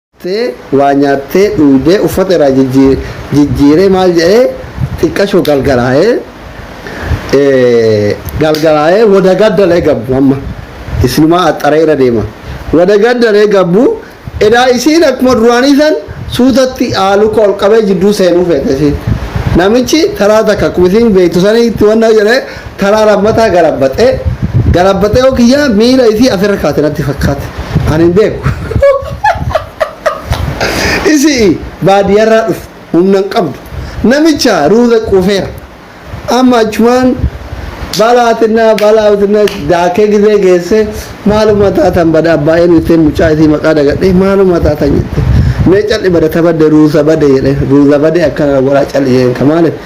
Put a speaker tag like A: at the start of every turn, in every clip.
A: Dhuftee waa nyaattee dhuydee uffata iraa jijjiiree maal jedhee xiqqasho galgalaayee galgalaayee wada gaddalee gabbu amma isinumaa axxaree ira deema wada gaddalee gabbu edaa isiin akkuma duraanii san suutatti aaluka ol qabee jidduu seenuu feete isiin namichi taraa takka akkuma isiin beektu saniitti wanna jedhee Karaa lammataa galabbaxe. Galabbaxe yoo kiyya miila isii asirra kaate natti fakkaate. Ani hin beeku. Isi'i baadiyarraa dhufte humna hin qabdu. Namicha ruuza quufeera. Amma achumaan balaa xinnaa balaa xinnaa daakee gizee geesse maaluma taatan bada abbaa eenyu ittiin mucaa isii maqaa dagadhee maaluma taatan jette. Mee calli bada tabadde ruuza bade jedhee ruuza bade akkana godhaa calli jedheen ka maaliif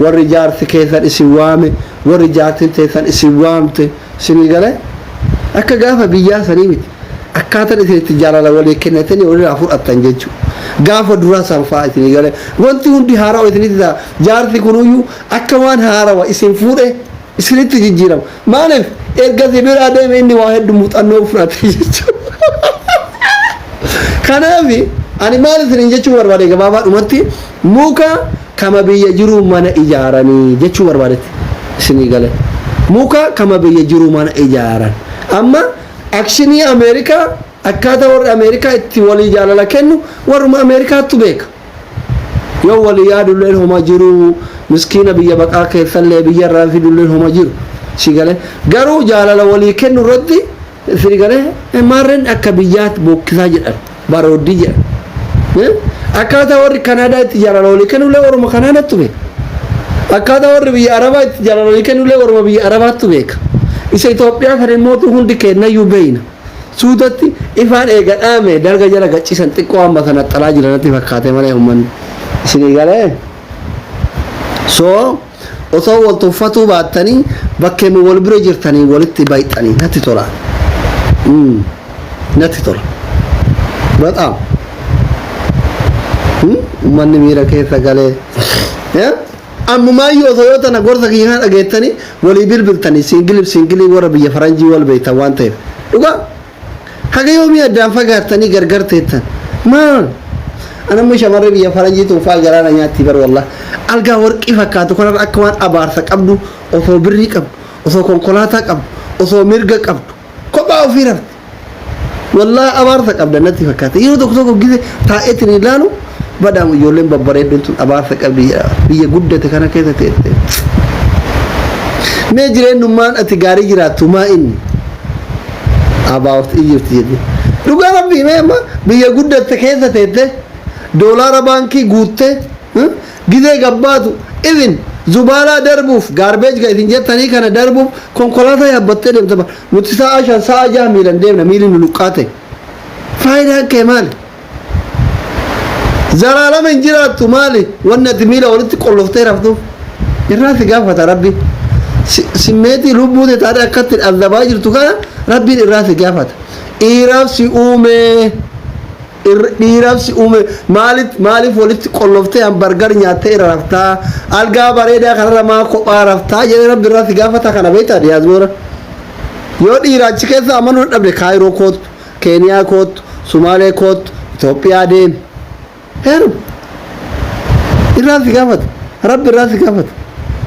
A: Warri jaarsi keessan isin waame, warri jaartin teessan isin waamte, isinii galee? Akka gaafa biyyaa sanii miti. Akkaatan isin itti jaalala walii kennatanii waliraa fudhattan jechuu. Gaafa duraa san faa isinii galee? Wanti hundi haarawa isinitti ta'a. Jaarsi kunuyyuu akka waan haarawa isin fuudhee. isinitti jijjiirama. Maaliif erga si biraa deeme inni waa heddu muuxannoo fudhate jechuudha. Kanaaf ani maal isiniin jechuu barbaade gabaabaa dhumatti muka kama biyya jiruu mana ijaaranii jechuu barbaadetti isinii gale. Muka kama biyya jiruu mana ijaaran. Amma akshinii Ameerikaa akkaataa warri Ameerikaa itti walii jaalala kennu warruma Ameerikaattu beeka. Yoo wali yaadulleen homa jiru miskiina biyya baqaa keessallee biyyarraa fidulleen homa jiru si galee garuu jaalala walii kennu irratti si galee maarreen akka biyyaatti bookkisaa jedhan barooddii jedhan akkaataa warri kanaadaa itti jaalala walii kennullee waruma kanaadaattu beeka akkaataa warri biyya arabaa itti jaalala walii kennullee waruma biyya arabaattu beeka isa Itoophiyaa sana immoo hundi keennayyuu beeyna. Suutatti ifaan eega dhaame dalga jala gacisan xiqqoo amma kan axxalaa jira natti fakkaate malee ummanni isinii galee so osoo wal tuffatuu baattanii bakkeema wal bira jirtanii walitti bayxanii natti tola mm. natti tola baxaam mm. ummanni miira keessa galee yeah? Ammumaayyuu osoo yoo tana gorsa kiyya kana dhageettanii walii bilbiltanii siingiliif siingilii warra biyya faranjii wal beektan waan ta'eef dhugaa haga yoomii addaan fagaattanii gargar teettan maal an amma shamarree biyya faranjii tun faa garaa na nyaattii bar wallah algaa warqii fakkaatu kanarra akka waan abaarsa qabdu osoo birrii qabdu osoo konkolaataa qabdu osoo mirga qabdu kophaa ofii rafti Wallaahi abaarsa qabda natti fakkaata. Yeroo tokko tokko gise taa'eetiin ilaalu badhaama ijoolleen babbareedduun tun abaarsa qabdi jedha. Biyya guddate kana keessa teessee. Mee jireenyummaan ati gaarii jiraattu maa inni? About Egypt jedhu. Dhugaa rabbii mee amma biyya guddatte keessa teessee doolaara baankii guuttee hmm, gizee gabbaatu even zubaalaa darbuuf gaarbeej kan isin jettanii kana darbuuf konkolaataa yaabbattee deemta. Nuti sa'a shan sa'a jaha miilan deemna miilli nu luqqaate. Faayidaan kee maali? Zalaalama hin jiraattu maali? Wanni ati miila walitti qolloftee raftuuf irraa si gaafata rabbi. Si- Simmeetii lubbuu tee taatee akkatti azabaa jirtu kana rabbiin irraa si gaafata. Dhiiraaf si uumee. irra- dhiiraaf si uume maalit maaliif walitti qolloftee an bargar nyaattee irra raftaa algaa bareedaa kanarra maa kophaa raftaa jedhee rabbi irraa si gaafata kana beektaa diyaasboora yoo dhiira achi keessa amanuu dadhabde kaayiroo koottu keeniyaa koottu sumaalee koottu itoophiyaa deemi heerum irraa si gaafata rabbi irraa si gaafata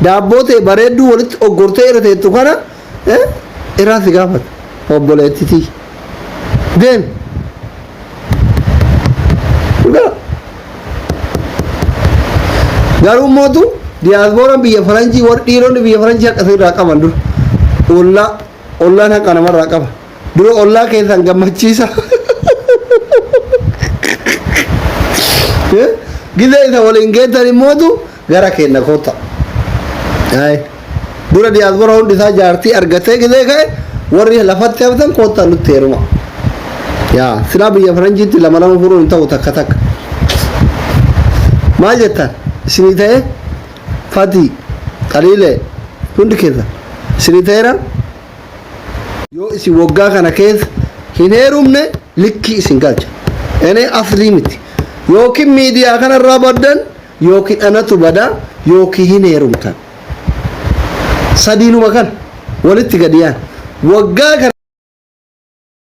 A: daabboo ta'e bareedduu walitti oggortee irra teettu kana eh iraan si gaafata obboleettitii deem dhugaa garuu mootu diyaasbooraan biyya faranjii warri dhiironni biyya faranjii haqa irraa qaban dura ollaa ollaan haqa namarraa qaba dura ollaa keessan gammachiisa gizee isa waliin geettan immootu gara keenna kotta Ay. dura diyaasbora hundi isaa jaartii argatee gidee ka'e warri lafatti haftan kotta nutti heeruma yaa silaa biyya faranjiitti lama lama furuun hin ta'u takka takka maal jettan isinii ta'e fatii qaliilee hundi keessa isinii ta'eera yoo isin waggaa kana keessa hin heerumne likkii isin galcha enee aslii miti yookiin miidiyaa kanarraa baddan yookiin anatu bada yookiin hin heerumtan. Sadiinuma kana walitti gadi yaan. Waggaa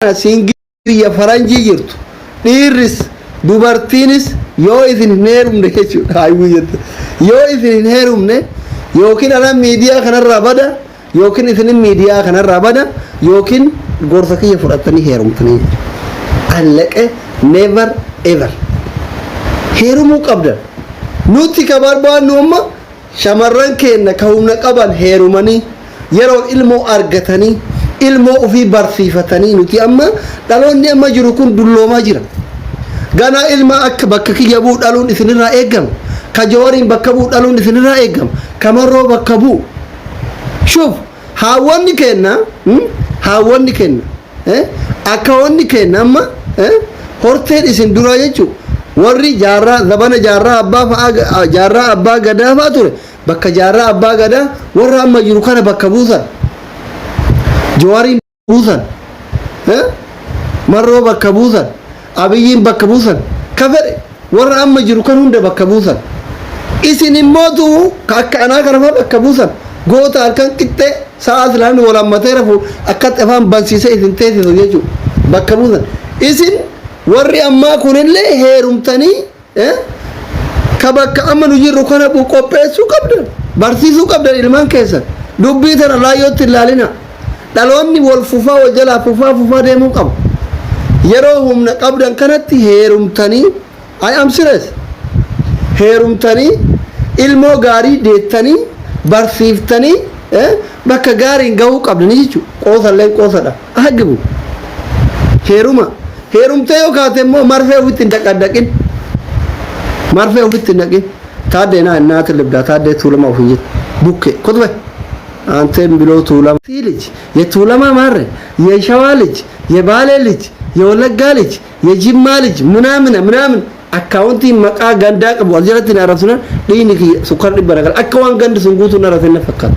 A: kana siingilii biyya faranjii jirtu dhiirris dubartiinis yoo isin hin heerumne jechuudha. Yoo isin hin heerumne yookiin anan miidiyaa kanarraa bada Yookiin isinin miidiyaa kanarraa bada yookiin gorsa kiyya fudhattanii heerumtanii allaqe never ever heerumuu qabdan nutti ka barbaannu amma shamarran keenna ka humna qaban heerumanii yeroon ilmoo argatanii ilmoo ufii barsiifatanii nuti amma dhaloonni amma jiru kun dulloomaa jira ganaa ilma akka bakka kiyya bu'u dhaluun isinirraa eegama ka jawariin bakka bu'u dhaluun isinirraa eegama ka marroo bakka bu'u Shuuf haawwonni keenna mm, haawwonni keenna eh, akkaawonni keenna amma eh, horteen isin duraa jechuu warri jaarraa zabana jaarraa abbaa fa'aa ga- ah, jaarraa abbaa gadaa fa'aa ture bakka jaarraa abbaa gadaa warra amma jiru kana bakka buusan. Jawaariin buusan eh? marroo bakka buusan abiyyiin bakka buusan ka fedhe warra amma jiru kan hunda bakka buusan isin immoo du'u ka akka anaa kana faa bakka buusan goota halkan qixxee sa'a asilaan wal hammatee rafu akkatti afaan bansiisee isin teessisu jechuudha bakka buusan isin warri ammaa kunillee heerumtanii ka bakka amma nu jirru kana bu qopheessuu qabdan barsiisuu qabdan ilmaan keessan dubbii tana laayyootti hin laalina dhaloonni wal fufaa wal jalaa fufaa fufaa deemuu qaba yeroo humna qabdan kanatti heerumtanii I am serious heerumtanii ilmoo gaarii deettanii barsiiftanii bakka gaariin gahuu qabdanii jechuudha qoosalleen qoosadha Agibu. Heeruma. Heerumtee yoo kaate immoo marfee ofitti hin dhaqadhaqin. Marfee ofitti hin dhaqin. Taaddee naa naa tilibdaa taaddee tuulamaa ofii jette. Bukke. Kotbe. Aanteen biloo tuulama. Tii lij. Ye tuulamaa maarre. Ye shawaa lij. Ye baalee lij. Ye wallaggaa lij. Ye jimmaa lij. Minaamina minaamin. Akkaawuntiin maqaa gandaa qabu as jalatti na arrabsinan dhiini kiyya sukkara dhibba na gala. Akka waan gandi sun guutuu na arrabsan na fakkaata.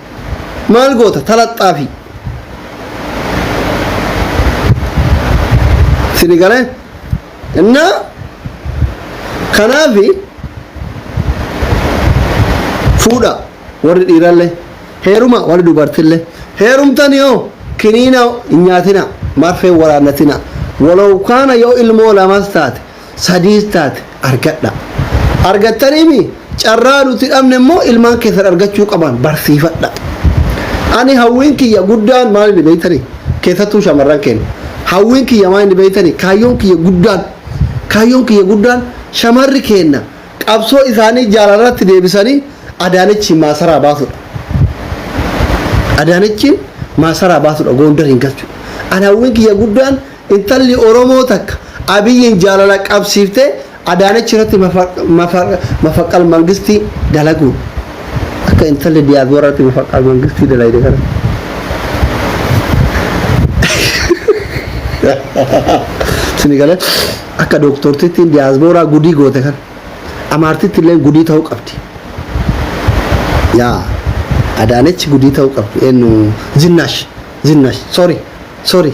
A: maal goota talaxxaafi sini galee innaa kanaafi fuudha warri dhiirallee heeruma warri dubartillee heerumtani yoo kiniina hin nyaatina marfee waraannatina walow kaana yoo ilmoo lamas taate sadiis taate argadha. Argattaniimi carraa nuti dhabne immoo ilmaan keessan argachuu qaban barsiifadha. Ani hawwiin kiyya guddaan maal inni beektanii? Keessattuu shamarran keenya. Hawwiin kiyya maal inni beektanii? Kaayyoon kiyya guddaan kaayyoon kiyya guddaan shamarri keenya qabsoo isaanii jaalalarratti deebisanii Adaanechiin maasaraa baasudha. Adaanechiin maasaraa baasudha Goondariin galchu. Ani hawwiin kiyya guddaan Intalli Oromoo takka Abiyyiin jaalala qabsiiftee Adaanech irratti mafaqqal mangistii dalaguun akka intalli Diyaasbooraa irratti mafaqqal mangistii dalayde kana. Sini galee akka dooktortittiin Diyaasbooraa gudii goote kana amaartitti illee gudii ta'uu qabdi. Yaa Adaanech gudii ta'uu qabdi eenyu zinnaash zinnaash sorry sorry.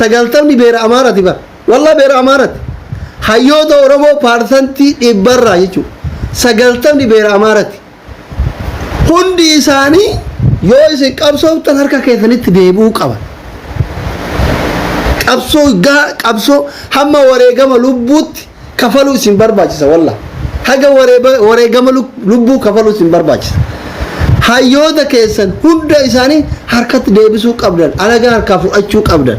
A: sagaltamni beera amaarati bara wallaa beera amaarati hayyoota oromoo paarsantii dhibbarraa jechuudha sagaltamni beera amaarati hundi isaanii yoo isin qabsooftan harka keessanitti deebi'uu qaba qabsoo gaa qabsoo hamma wareegama lubbuutti kafaluu isin barbaachisa wallah haga wareeba- wareegama lub- lubbuu kafaluu isin barbaachisa hayyoota keessan hunda isaanii harkatti deebisuu qabdan alagaa harkaa fudhachuu qabdan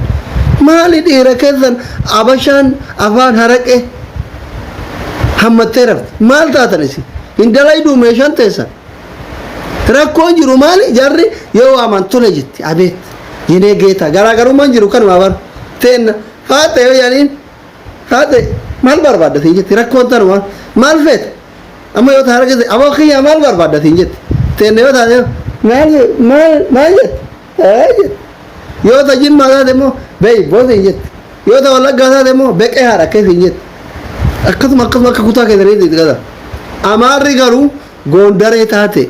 A: maali dhiira keessan abashaan afaan haraqe hammattee rafte maal taatan isin hin dalayduu meeshaan teessan rakkoon jiru maali jarri yoo waaman tole jetti abeet yenee geetaa garaagarummaan jiru kanuma bar teenna faaxa yoo yaaniin Haadhe maal barbaadda siin jetti rakkoon tanuma maal feeta amma yoo taara jette aboo kiyyaa maal barbaadda siin jetti teenne yoo taate maal maal maal jette ee jette yoo ta jimmaa taate immoo beeyboo siin jetti yoo ta wallaggaa taate immoo beqee haadha kee siin jetti akkasuma akkasuma akka kutaa keessaniitti itti gata amaarri garuu goondaree taate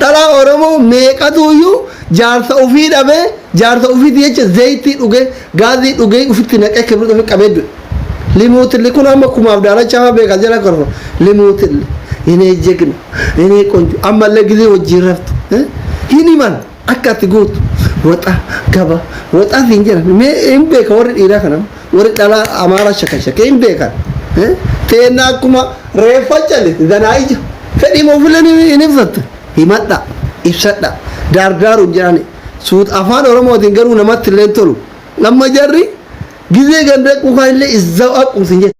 A: Dhalaa Oromoo meeqatuuyyuu jaarsa ufii dhabee jaarsa ufiiti jecha zeeytii dhugee gaazii dhugee ufitti naqee kibriit ufi qabee du'e. Limuutilli kun amma kumaaf daalachaa faa beekaa jala korfa. Limuutilli inee jegna inee qonjo ammallee gizee wajjiin raftu hin himan akka ati gootu waxa gaba waxa siin jedhan mee hin beeka warri dhiiraa kana. Warri dhalaa Amaaraa shakashake hin beekan. Teenna akkuma reeffa callite danaa ija. Fedhiima ofileen hin ibsatte. Himadha, ibsadha. Daardaaru hin jedhani. Suut afaan Oromootiin garuu namatti illee hin tolu. Amma jarri gizee ganda quukaan illee izzaw aqum sin jette.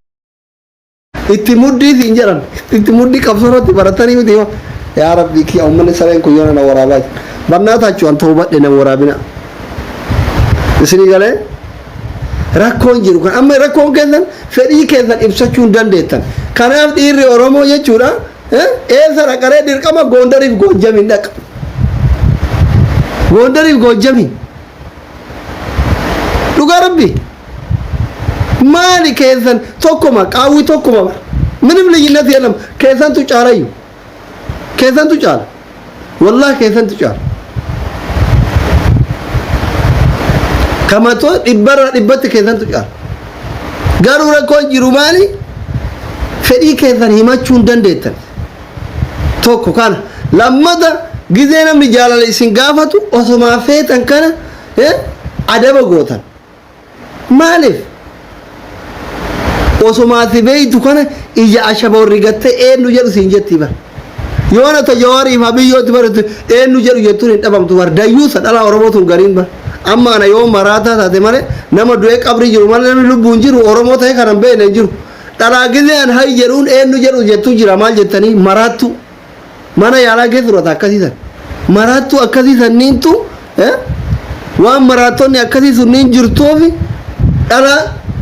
A: itti muddii siin jedhan itti muddii qabsoo irratti baratanii miti yoo yaa rabbii kiyya ummanni sareen kun yoo na waraabaa jira bannaa taachuu an ta'uu badhe na waraabina isinii galee rakkoon jiru kan amma rakkoon keessan fedhii keessan ibsachuu hin dandeettan kanaaf dhiirri oromoo jechuudha eh, eessa dhaqaree dirqama goondariif goojjamiin dhaqa goondariif goojjamiin dhugaa rabbi maali keessan tokkuma qaawwi tokkuma bara minim liyyinati jedham keessantu caalayyu keessantu caala wallah keessantu caala kamato dhibbarra dhibbatti keessantu caala garuu rakkoon jiru maali fedhii keessan himachuu hin dandeettan tokko kana lammata gizee namni jaalala isin gaafatu osomaa feetan kana eh, adaba gootan maaliif osomaati beeytu kana ija ashaba warri gattee eenyu jedhu siin jetti bara yoo na tajawaariif habiyyooti baratu eenyu jedhu jettuun hin dhabamtu bara dayyuusa dhalaa oromoo tun gariin bara amma ana yoo maraataa taate malee nama du'ee qabrii jiru malee namni lubbuun jiru oromoo ta'e kana hin beekne hin jiru Dhalaa gizee an hay jedhuun eennu jedhu jettu jira maal jettanii maraattu mana yaalaa keessa turata akkasii san maraattu akkasii sanniintu eh, waan maraattonni akkasii sunniin jirtuufi dhala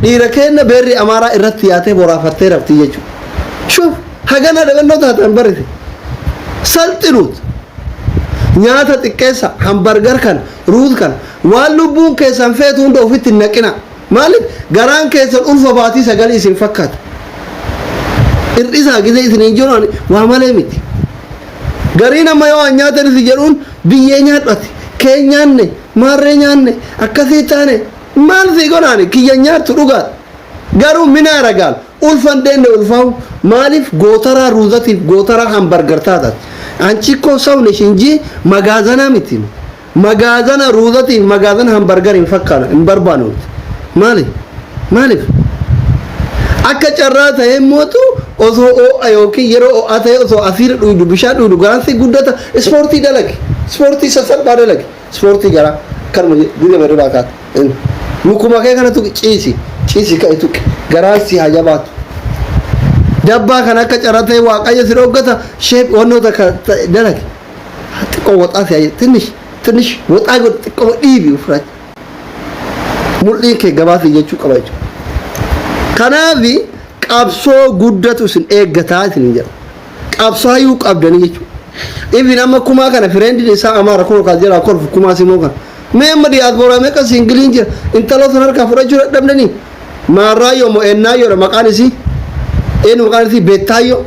A: dhiira keenna beerri amaaraa irratti yaatee boraafattee rafti jechuudha. Shuf hagana dhagannoo taatan barrite salxinuut nyaata xiqqeessa hambargar kana ruut kana waan lubbuun keessan feetu hunda ofitti hin naqina. Maaliif garaan keessan ulfa baatii sagalii isin fakkaata. Hir'isaa gisee isiniin jiru ani waa malee miti. Gariin amma yoo waan nyaatan isin jedhuun biyyee nyaadhu ati. Kee nyaanne, maarree nyaanne, akkasii taane maal sii godhaani kiyya nyaattu dhugaadha. Garuu mina aragaal ulfa hin deenne ulfaawu maaliif gootaraa ruuzatiif gootaraa hambargar taataati. Anchi koo sawnesh injii magaazanaa miti. Magaazana ruuzati fi magaazana hambargari hin fakkaana hin barbaanu maali maalif akka carraa ta'ee mootu osoo oo'a yookiin yeroo oo'aa ta'ee osoo asiira dhuydu bishaan dhuydu garaan si guddata ispoortii dalage ispoortii sassalphaa dalage ispoortii garaa kanuma dirree baduraa kaata lukuma kee kana tuqi ciisi ciisi ka'e tuqi garaan si haa jabaatu dabbaa kana akka carraa ta'ee waaqayyo si dhoggata sheep wannoo takka dalage xiqqoo waxaa si'a jedhu tinish tinish waxaa godhu xiqqoo dhiibi ofirraa mul'iin kee gabaasii jechuu qaba jechuudha. Kanaaf qabsoo guddatu isin eeggataa isin jedha. Qabsaayuu qabdanii jechuudha. Ibin amma kumaa kana fireendiin isaa amaara kun kaas jedhaa kolfu kumaa simoo kana. Mee amma diaspora meqa singiliin jira intaloo san harkaa fudhachuu dadhabdanii maarraayyoo moo eennaayyoodha maqaan isii eenyu maqaan isii beettaayyoo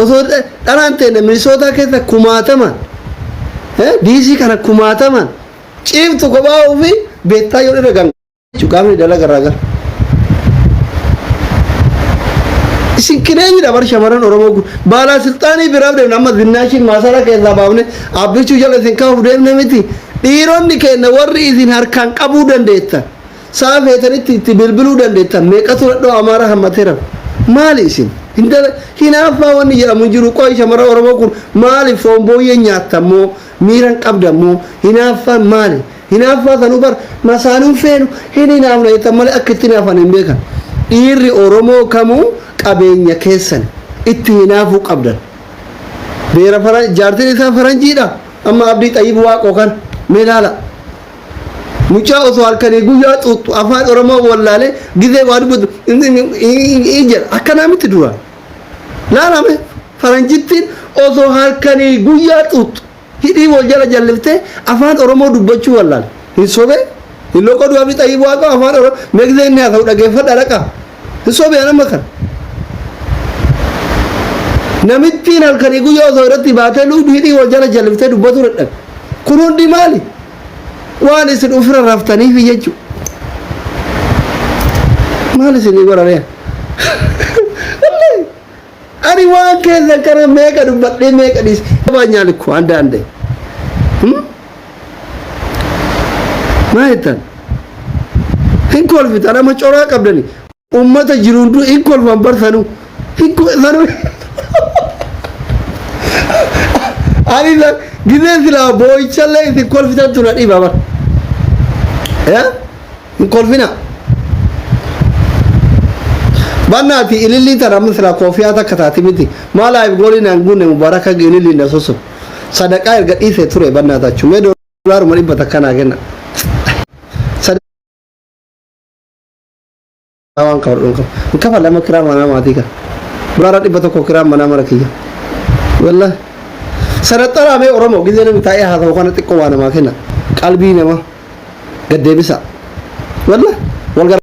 A: osoo dhalaan teenna minisootaa keessa kumaatamaan diisii kana kumaatamaan ciiftu kophaa ofii beettaayyoon irra ganga. Cuqaamni dalaga irraa gara. Isin qineenyidha bar shamarran Oromoo kun. Baalaa silxaanii biraaf deemna amma zinnaashiin maasara keessaa baafne abbichuu jala isin kaa'uuf deemne miti. Dhiironni keenya warri isin harkaan qabuu dandeettan. Sa'a feetanitti itti bilbiluu dandeettan. Meeqatu dhadhoo amaaraa hammateera. Maali isin? Hinaaffaa wanni jedhamu hin jiru. Qoy shamarran Oromoo kun maaliif foon booyyee nyaattan moo miiran qabdan moo hinaaffaan maali? Hinaaffaa sanuu bar masaanuu hin feenu hin hinaafna jettan malee akka itti hinaafan hin beekan. Dhiirri Oromoo kamuu qabeenya keessan itti hinaafuu qabdan. Beera faran jaartin isaa faranjiidha amma abdii xayyib waaqoo kan mee laala. Mucaa osoo halkanii guyyaa xuuxxu afaan Oromoo wallaalee gizee waa dubbatu jedha akkanaa miti dura. Laalame faranjittiin osoo halkanii guyyaa xuuxxu. Hidhii wal jala jallifte afaan oromoo dubbachuu wallaal hin sobe hin loqoduu abdi xayyib waaqoo afaan oro megzee inni haasa'u dhageeffadha dhaqa hin sobe an amma kan namittiin halkanii guyyaa osoo irratti baatee luudu hidhii wal jala jalliftee dubbatu dadhabe kun hundi maali waan isin ofirra raftaniif jechu maal isinii godhanee Ani waan keessa kana meeqa dubbadhee meeqa dhiise. Abaa nyaali koo handa hande. Maa jettan? Hin kolfitan amma coraa qabdani. Uummata jiru hunduu hin kolfan bar sanuu. Hin kolfan. Ani san gizee silaa boo'ichallee isin kolfitan tuna dhiba bar. Eh? hin kolfina bannaati ilillii tan amma silaa koofiyaa takka taati miti maa laayif goolii naan guunne mubaaraka ililliin na susu sadaqaa erga dhiisee ture bannaata achu mee doolaaruma dhibba takka naa kenna Maa waan kafadhu hin qabu. Hin kafale amma kiraa manaa maatii kan. Dolaara dhibba tokko kiraa manaa mana kiyya. Wallah. Sanaxaraa mee Oromoo gizee namni taa'ee haasa'u kana xiqqoo waa namaa kenna. Qalbii namaa gad deebisa. Wallah. Wal gara